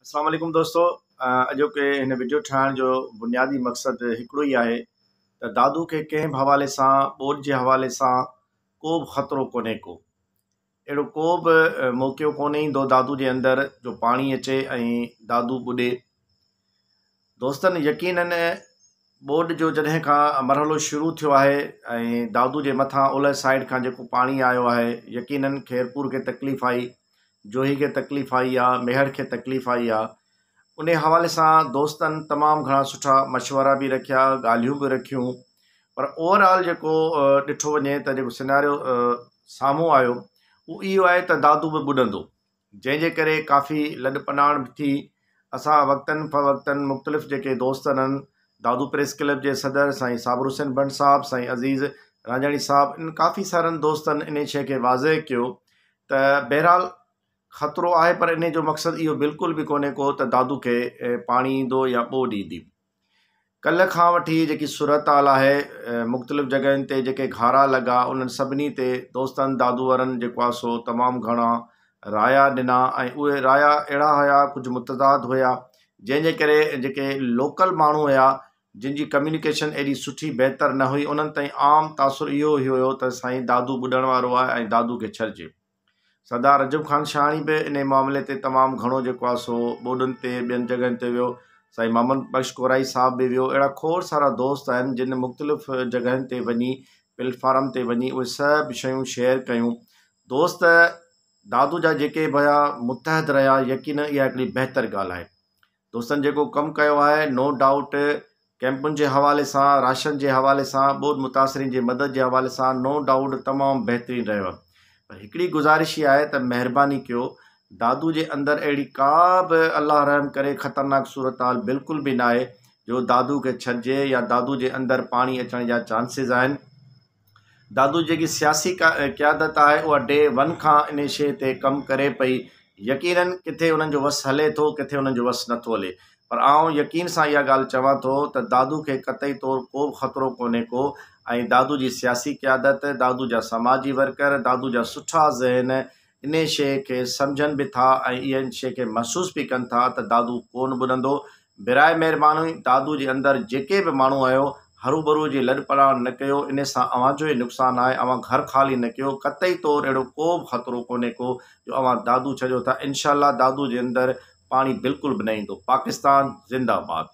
اسلام عليڪم دوستو اڄوڪي هن وڊيو ٺاهڻ جو بنيادي مقصد هڪڙو ئي آهي ته دادو کي ڪنهن به حوالي سان ٻوڏ جي حوالي سان ڪو به خطرو ڪونهي ڪو اهڙو ڪو به موقعو ڪونهي ايندو دادو جي اندر جو پاڻي اچي ۽ دادو ٻڏي دوستن يقينن ٻوڏ جو جڏهن کان مرحلو شروع ٿيو آهي ۽ دادو جي مٿان اولهه سائيڊ کان جيڪو پاڻي آيو آهي يقينن خيرپور کي تڪليف آئي جوهي کي تڪليف آئي آ ميهڙ کي تڪليف آئي آ انهي حوالي سان دوستن تمام گهڻا سٺا مشورا به رکيا ڳالهيون به رکيون پر اوور آل جيڪو ڏٺو وڃي ته جيڪو سيناريو سامهون آيو اهو اهو آهي ته دادو به ٻڏندو جنهن جي ڪري ڪافي لڏپلاڻ به ٿي. اسان وقتاً فوقتاً مختلف جيڪي دوست هلن، دادو پريس ڪلب جي صدر سائين صابر حسين بنڊ صاحب، سائين عزيز رانجهاڻي صاحب انهن ڪافي سارن دوستن انهيء شيء کي واضع ڪيو ته بهرحال خطرو آهي پر انهيء جو مقصد اهو بلڪل به ڪونهي ڪو ته دادو کي پاڻي ايندو يا ٻوڏ ايندي. ڪلهه کان وٺي جيڪي صورتحال آهي مختلف جڳهين تي جيڪي گهارا لڳا انهن سڀني تي دوستن دادو ورن جيڪو آهي سو تمام گهڻا رايا ڏنا ۽ اهي رايا اهڙا هيا ڪجهه متضاد هيا جنهن جي ڪري جيڪي لوڪل ماڻهو هيا جن جي ڪميونيڪيشن ايڏي سٺي بهتر نه هئي انهن تائين عام تاثر اهو هيو ته سائين دادو ٻڏڻ وارو آهي ۽ دادو کي ڇڏجي سردار رجب خان شاهاڻي به انهيء معاملي تي تمام گهڻو جيڪو آهي سو ٻوڏن تي ٻين جڳهين تي ويو. سائين محمد بخش ڪورائي صاحب به ويو. اهڙا کوڙ سارا دوست آهن جن مختلف جڳهين تي وڃي پليٽ فارم تي وڃي اهي سڀ شيون شيئر ڪيون. دوست دادو جا جيڪي به هيا متحد رهيا يقينن اها هڪڙي بهتر ڳالهه آهي. دوستن جيڪو ڪم ڪيو آهي نو ڊائوٽ ڪيمپن جي حوالي سان راشن جي حوالي سان ٻوڏ متاثرين جي مدد جي حوالي سان نو ڊائوٽ تمام بهترين رهيو آهي پر هڪڙي گذارش هي آهي ته مهرباني ڪيو دادو جي اندر اهڙي ڪا به الله رحم ڪري خطرناڪ صورتحال بلڪل به ناهي جو دادو کي ڇڏجي يا دادو جي اندر پاڻي اچڻ جا چانسز آهن دادو جيڪي سياسي قيادت آهي اها ڊي ون کان انهي شيء تي ڪم ڪري پئي يقينن ڪٿي انهن جو وس هلي ٿو ڪٿي انهن جو وس نٿو هلي پر آئون يقين سان اها ڳالهه چوان ٿو ته دادو کي قطعي طور ڪو به خطرو ڪونهي ڪو ۽ دادو جي سياسي قيادت دادو جا سماجي ورڪر دادو جا سٺا ذهن انهيء شيء کي سمجهن به ٿا ۽ اهي ان شيء کي محسوس به ڪن ٿا ته دادو ڪونه ٻڏندو. براء مهرباني دادو جي اندر جيڪي به ماڻهو آيو، هروڀرو جي لڏپلاڻ نه ڪيو، انهيء سان اوهان جو ئي نقصان آهي. اوهان گهر خالي نه ڪيو. قطعي طور اهڙو ڪو به خطرو ڪونهي ڪو جو اوهان دادو ڇڏيو ٿا. انشاء الله دادو جي اندر پاڻي بلڪل به نه ايندو. پاڪستان زنده باد.